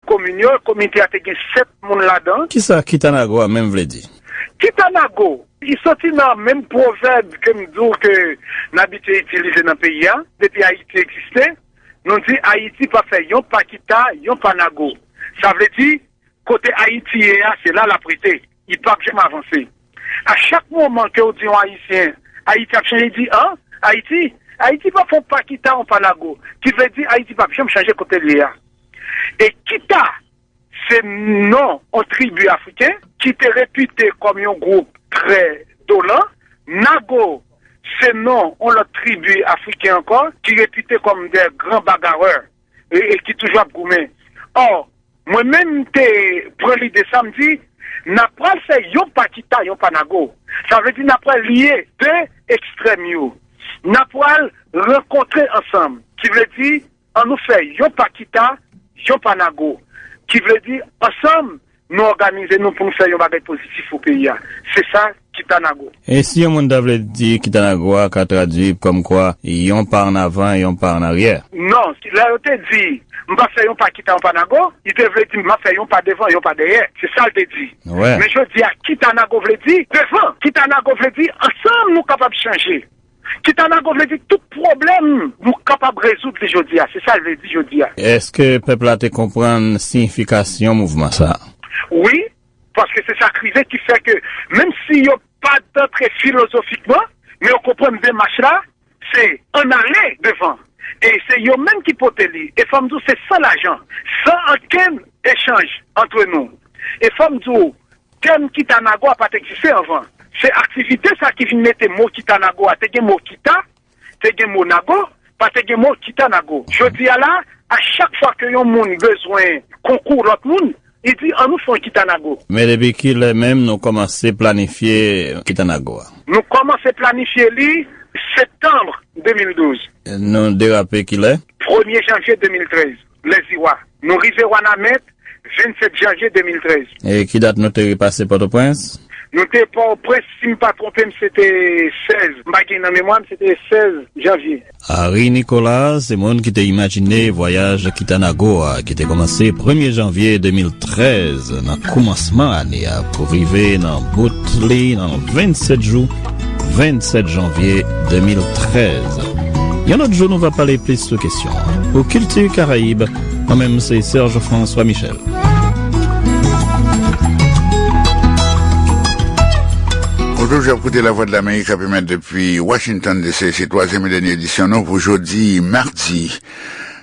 Komin yo, komite a te gen 7 moun ladan. Kisa Kitanago a menm vle di? Kitanago, li soti nan menm pwovèb ke m di w ke n abitye itilize nan peyi a, depi Ayiti egziste, nou di Ayiti pa fè yon pa Kita, yon pa Nago. Sa vle di, kote Ayiti ye a, se la l ap rete. Li pap janm avanse. A chak moman kew di yon ayisyen Ayiti ap chanje di an Ayiti Ayiti pap fè yon pa kita yon pa nago ki vle di Ayiti pap janm chanje kotel ye a e kita se non yon tribi afriken ki te repite kòm yon gwoup trè donan nago se non yon lòt tribi afriken ankò ki repite kòm dè gran bagarè. e ki toujou ap goumen. Or, mwen menm m te pran lide sa, m di, n ap pral fè yon pa kita, yon pa nago. Sa vle di n ap pral lye 2 ekstrèm yo. N ap pral rankontre ansanm. Ki vle di, an nou fè yon pa kita, yon pa nago. Ki vle di, ansanm, Nou òganize nou pou nou fè yon bagay pozitif pou peyi a. Se sa Kitanago. E si yon moun ta vle di Kitanago a ka tradui kòmkwa yon pa an avan e yon pa an aryè? Non. Lè yo te di, M pa fè yon pa kita yon pa nago, li te vle di m ap fè yon pa devan, yon pa dèyè. Se sa l te di. Men jodi a Kitanago vle di, devan. Kitanago vle di, ansanm nou kapab chanje. Kitanago vle di tout pwoblèm nou kapab rezoud li jodi a, se sa l vle di jodi a. Èske pèp la te konprann siyifikasyon mouvman sa a? Wi, paske se sa k rive ki fè ke menm si yo pa t antre filozofikman, men yo konprann demach la se ann ale devan e se yo menm ki pote li. E fò m di w se san lajan, san ankenn echanj antre nou. E fò m di w. Tèm Kitanago a pa t egziste anvan. Se aktivite sa ki vin mete mo Kitanago a. Te gen mo Kita, te gen mo Nago, pa te gen mo Kitanago. Jodi a la, a chak fwa ke yon moun bezwen konkou lòt moun, li di an nou fè yon Kitanago. Men depi ki lè menm nou kòmanse planifye Kitanago a? Nou kòmanse planifye li Septanbre 2012. Nou derape ki lè? Premye Janvye 2013. Lèziwa. Nou rive Wanament 27 janvye 2013. E ki dat nou te repase Pòtoprens? Nou te Pòtoprens, si m pa twonpe m, se te 16, m pa gen nan memwa m, se te 16 janvye. Henri Nicolas se moun ki te imajine vwayaj kita Nago a ki te kòmanse premye janvye 2013 nan koumansman ane a pou rive nan bout li nan 27 jou 27 janvye 2013 Yon lòt jou nou va pale plis sou kesyon an Pou Kilti Karayib Mwen menm se Serge François Michel. Bonjour, ap koute la Voix de l'Amérique ap emet depi Washington DC. Se twazyèm e dènye edisyon nou pou jodi mardi.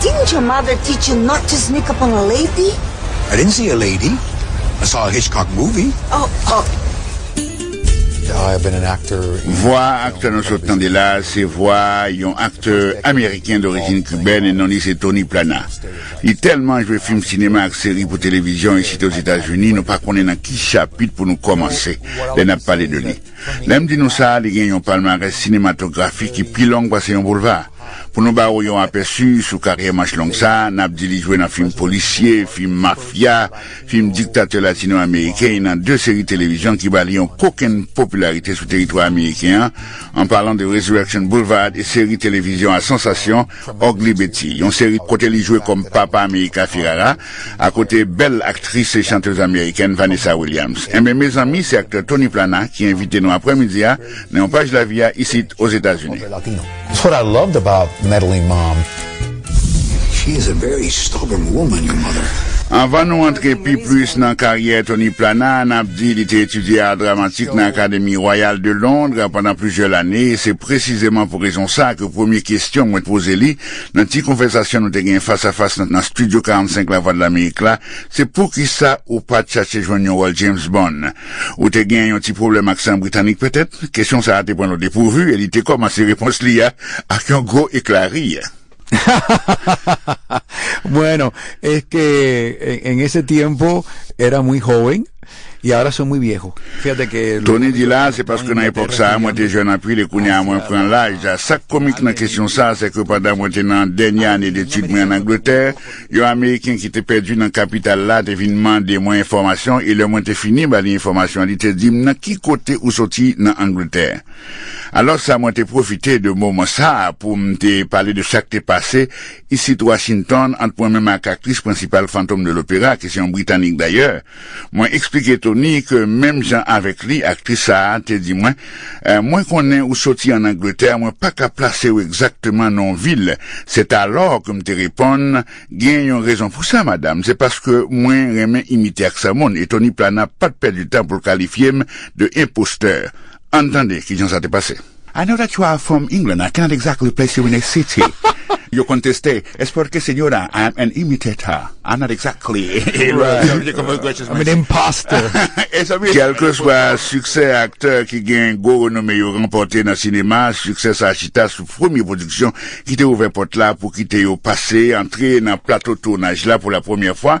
Didn't your mother teach you not to sneak up on a lady? I didn't see a lady, I saw a Hitchcock movie. Oh, oh. Vwa aktè nou sot tande la a se vwa yon aktè ameriken dorijin kibèn e non li se Tony Plana. Li tèlman jwe fim sinema ak seri pou televizyon isite Ozetazini nou pa konnen nan ki chapit pou nou kòmanse lè n ap pale de li. Lè m di nou sa, li gen yon palmarès sinematografi ki pi long pase yon boulva. Pou nou ba ou yon apèsi sou karyè manch long sa, n ap di li jwe nan fim polisye, fim mafya, fim diktatè latino-ameriken e nan de seri televizyon ki ba li yon kokenn popilarite sou teritwa ameriken an, an palan de Resurrection Boulevard e seri televizyon a sansasyon Ugly Betty, yon seri kote li jwe kòm papa America Ferrara, akote bèl aktris e chantez amerikèn Vanessa Williams. Enben, mezanmi, se aktè Tony Plana ki envite nou aprèmidi a nan yon paj lavi a isit Ozetazini. That's what I loved about Meddling Mom. She is a very stubborn woman, your mother. Anvan nou antre pi plis nan karyè Tony Plana, n ap di li te etidye Ar Dramatik nan Akademi Royal de Londres pandan plizyè lane e se presizeman pou rezon sa ke, Premye kesyon mwen poze li, nan ti konvèsasyon nou te gen fas a fas nan Studio 45 Lavwadlamerik la, se poukisa ou pa t chache jwenn yon wòl James Bond? Ou te gen yon ti pwoblèm ak san britanik petèt? Kesyon sa a te pran l odepwouvi e li te kòmanse repons li a ak yon gwo ekla ri. Bueno, es que en ese tiempo era muy joven. Tony di la, se paske nan epòk sa a mwen te jèn anpil e kounye a mwen pran laj. Sa k komik nan kesyon sa a, sèke pandan mwen te nan dènye ane detid mwen ann Angletè, yon Ameriken ki te pèdi nan kapital la te vin mande mwen enfòmasyon e lè mwen te fini ba li enfòmasyon li te di m nan ki kote ou soti nan Angletè. Alòs sa mwen te pwofite de moman sa a pou m te pale de sa k te pase isit Washington ant mwen menm ak aktris prensipal Fantom de Lopera ki se yon Britanik dayè. Mwen eksplike Tony ke menm jan avèk li, aktris sa a te di mwen, Mwen konnen ou soti ann Angletè, mwen pa ka plase ou egzakteman nan yon vil. Setalò ke m te reponn, Gen yon rezon pou sa, madam, se paske mwen renmen imite aksan moun. E Tony Plana pa t pèdi tan pou l kalifye m de enpostè. Ann tande kijan sa te pase. I know that you are from England, I cannot exactly place you in a city Yo konn teste, es porque señora I am an imitator, I'm not exactly a lawyer I'm an impostor Kèlkeswa siksè aktè ki gen gwo renome yo ranpòte nan sinema, siksè sa chita sou premye pwodiksyon ki te ouvè pòt la pou kite yo pase, antre nan plato tounaj la pou lapremyè fwa.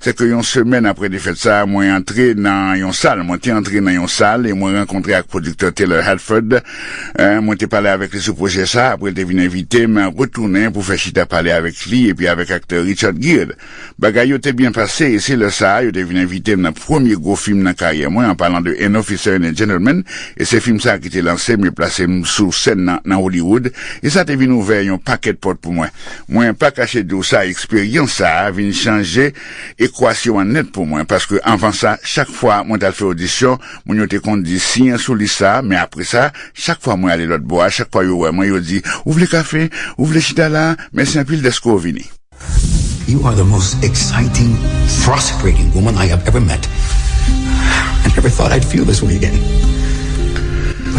Se ke yon semèn apre defèt sa, mwen antre nan yon sal. Mwen te antre nan yon sal e mwen rankontre ak pwodiktè Taylor Haddford. Mwen te pale avèk li sou pwojè sa. Apre l te vin envite m retounen pou fè chita pale avèk li epi avèk aktè Richard Gere. Bagay yo te byen pase e se lè sa a yo te vin envite m nan premye gwo fim nan karyè mwen, an palan de An Officer and a Gentleman. E se fim sa a ki te lanse m e plase m sou sèn nan nan Hollywood e sa te vin ouvè yon pakèt pòt pou mwen. Mwen pa kache di w sa eksperyans sa vin chanje ekwasyon an nèt pou mwen paske anvan sa chak fwa mwen t al fè odisyon moun yo te konn di siyen sou lis sa men apre sa chak fwa mwen ale lòtbò a chak fwa yo wè mwen yo di ou vle kafe ou vle chita la mèsi anpil dèske w vini. You are the most exciting, prosperating woman I have ever met. I never thought I'd feel this way again.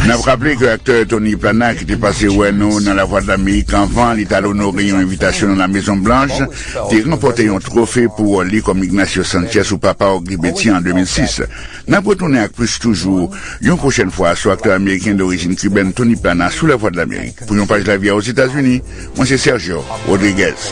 N ap raple ke aktè Tony Plana ki te pase wè nou nan Lavwadlamerik anvan li t al onore yon envitasyon nan Lamezon Blanch, te ranpòte yon twofe pou wòl li kòm Ignacio Sanchez ou Papa Ogri Beti an 2006. N ap retounen ak plis toujou yon pwochèn fwa sou aktè ameriken dorijin kibèn Tony Plana sou Lavwadlamerik. Pou yon paj lavi a Ozetazini, mwen se Sergio Rodriguez.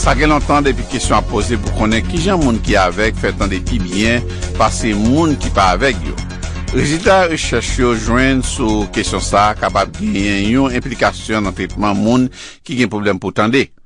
Sa gen lontan depi kesyon ap poze pou konnen kijan moun ki avèg fè tande pi byen pase moun ki pa avèg yo. Rezilta rechèch yo jwenn sou kesyon sa a kapab genyen yon enplikasyon nan tretman moun ki gen pwoblèm pou tande.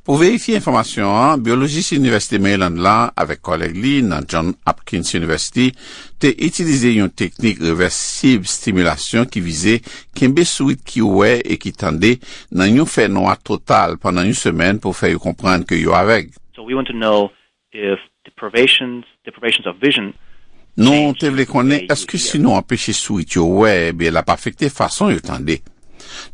Pou verifye enfòmasyon an, byolojis Inivèsite Maryland la avèk kòlèg li nan John Hopkins University te itilize yon teknik revèsib stimilasyon ki vize kenbe sourit ki wè e ki tande nan yon fè nwa total pandan yon semèn pou fè yo konprann ke yo avèg. Nou te vle konnen èske si nou anpeche sourit yo wè, ebyen l ap afekte fason yo tande.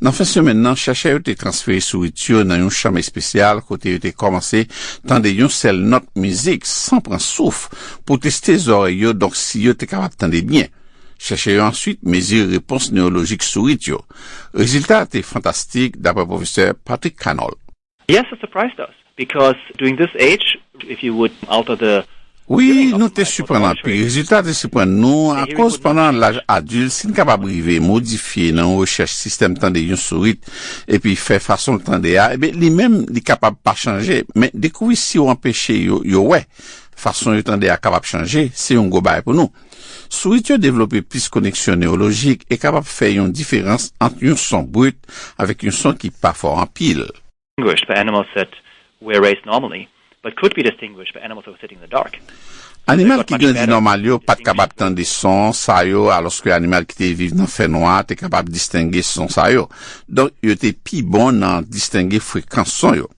Nan fen semèn nan, chèchè yo te transfere sourit yo nan yon chanm espesyal kote yo te kòmanse tande yon sèl nòt mizik san pran souf pou teste zòrèy yo donk si yo te kapab tande byen. Chèchè yo answit mezire repons newolojik sourit yo. Rezilta a te fantastik, dapre pwofesè Patrick Cannol. Yes it surprised us because during this age if you would alter the. Wi, nou te siprann anpil. Rezilta te siprann nou akoz pandan laj adilt si n kapab rive modifye nan yon rechèch sistèm tande yon sourit epi fè fason l tande a ebyen li menm li kapab pa chanje men dekouvri si w anpeche yo yo wè fason yo tande a kapab chanje se yon gwo bagay pou nou. Sourit yo devlope plis koneksyon newolojik e kapab fè yon diferans ant yon son brut avèk yon son ki pa fò anpil. Animal ki grandi nòmal yo pa t kapab tande son sa yo alòske animal ki te viv nan fènwa te kapab distenge son sa yo. Donk, yo te pi bon nan distenge frekans son yo.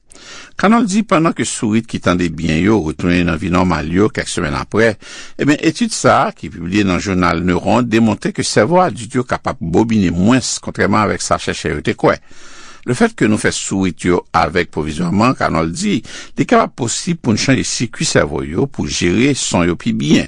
Cannon di pandan ke sourit ki tande byen yo retounen nan vi nòmal yo kèk semèn aprè, ebyen etid sa a, ki pibliye nan jounal Neuron, demontre ke sèvo adilt yo kapab bobine mwens kontrèman avèk sa chèchè yo te kwè. Lefèt ke nou fè sourit yo avèg pwovizwaman, Cannon di, li kapab posib pou n chanje sikui sèvo yo pou jere son yo pi byen.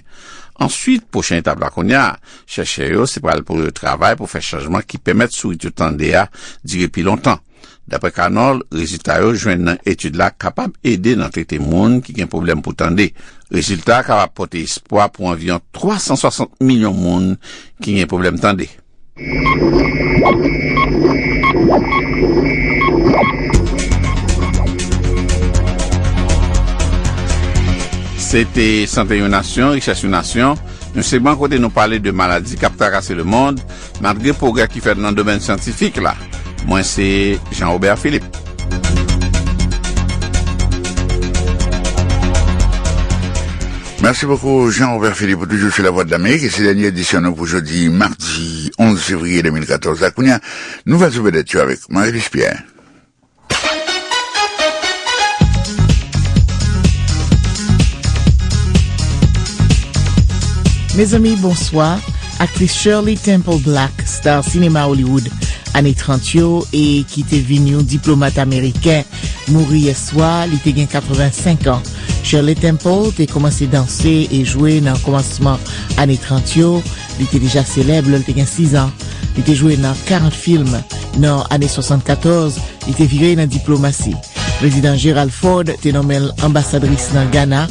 Answit, pwochen etap la kounya, chèchè yo se pral pou yo travay pou fè chanjman ki pèmèt sourit yo tande a dire pi lontan. Daprè Canol, rezilta yo jwenn nan etid la kapab ede nan trete moun ki gen pwoblèm pou tande. Rezilta a kapab pote espwa pou anviyon 360 milyon moun ki gen pwoblèm tande. Se te Sante yon nasyon, richès yon nasyon, yon segman kote nou pale de maladi k ap trakase lemond. Malgre pwogrè ki fèt nan domèn syantifik la, mwen se Jean Robert Philippe. Mèsi bokou Jean Robert Philippe ou toujou sou Lavwadlamerik e se dènye edisyon nou pou jodi madi 11 fevriye 2014 la. Kounya, nouvèl sou vedèt yo avèk Marie-Louise Pierre. Mezanmi bonswa, aktris Shirley Temple Black, star sinema Hollywood ane 30 yo e ki te vin yon diplomat ameriken, mouri yèswa, li te gen 85 an. Shirley Temple te kòmanse danse e jwe nan kòmansman ane 30 yo. Li te deja selèb lè l te gen 6 an. Li te jwe nan 40 film. Nan ane 74, li te vire nan diplomasi. Prezidan Gerald Ford te nonmen l anbasadris nan Gana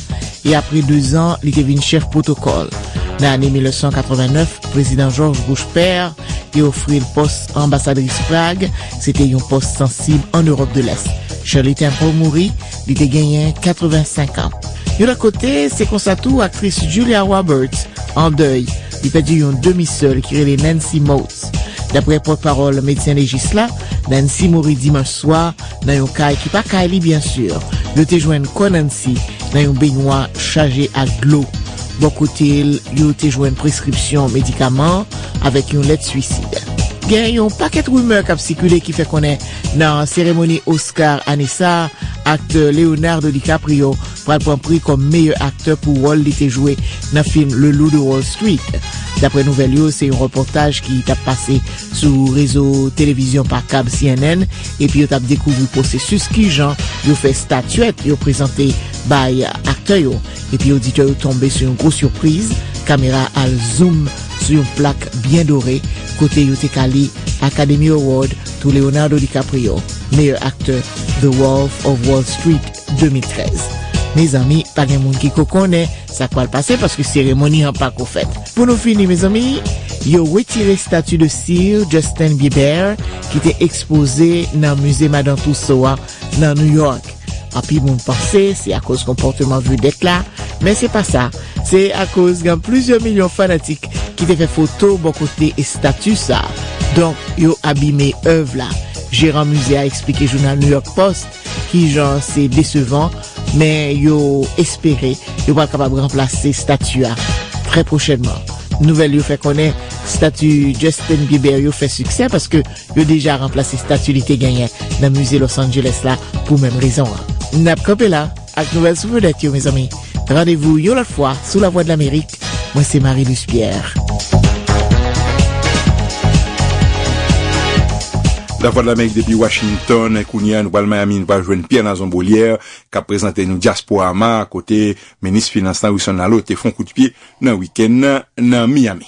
e apre dezan, li te vin chèf pwotokòl. Nan ane 1989, Prezidan George Bush Père te ofri l pòs anbasadris Prag. Se te yon pòs sansib ann Ewòp de Lès. Shirley Temple mouri. Li te genyen 85 an. Yon lòt kote, se konsa tou aktris Julia Roberts an dèy. Li pèdi yon demi sè l ki rele Nancy Moats. Daprè pòtpawòl medsen lejis la, Nancy mouri dimanch swa nan yon kay ki pa kay li byen sur. Yo te jwenn kò Nancy nan yon benywa chaje ak dlo. Bò kote l, yo te jwenn preskripsyon medikaman avèk yon lèt swisid. Gen yon pakèt rimè k ap sikile ki fè konnen Nan seremoni Oscar ane sa, aktè Leonardo DiCaprio pral pran pri kòm meyè aktè pou wòl li te jwe nan fim Le Loup de Wall Street. Daprè nouvèl yo, se yon repòtaj ki tap pase sou rezo televizyon pa kab cnn epi yo tap dekouvri pwosesis kijan yo fè statyèt yo prezante bay aktè yo epi oditè yo tonbe sou yon gwo sipriz, kamera al zoom sou yon plak byen dore kote yo te ka li Academy Award Tou Leonardo DiCaprio meyè aktè The Wolf of Wall Street 2013 Mezanmi pa gen moun ki ko konnen sak pral pase paske seremoni an pako fèt Pou nou fini mezanmi yo wetire stati de Sir Justin Bieber ki te ekspoze nan Musée Madan Tussauds a Nan New York, anpil moun panse se akoz konpòteman vedèt la, men se pa sa, se akoz gen plizyè milyon fanatik ki te fè foto bò kote estati sa, donk yo abime èv la. Jeran mize a eksplike jounal New York Post kijan se desevan, men yo espere yo pral kapab ranplase estati a trè pwochènman. Nouvèl yo fè konnen estati Justin Bieber yo fè siksè paske Yo deja ranplase stati li te genyen nan Musée Los Angeles la pou menm rezon an. N ap kanpe la ak nouvèl sou vedèt yo mezanmi. Randevou yon lòt fwa sou Lavwadlamerik. Mwen se Marie Luce Pierre. Lavwadlamerik depi Washington, kounye a nou pral Miami nou pral jwenn Pierre Nazon Beaulière k ap prezante nou Diasporama kote minis finans la Wilson Laleau te fon kout pye nan wikenn nan Miami.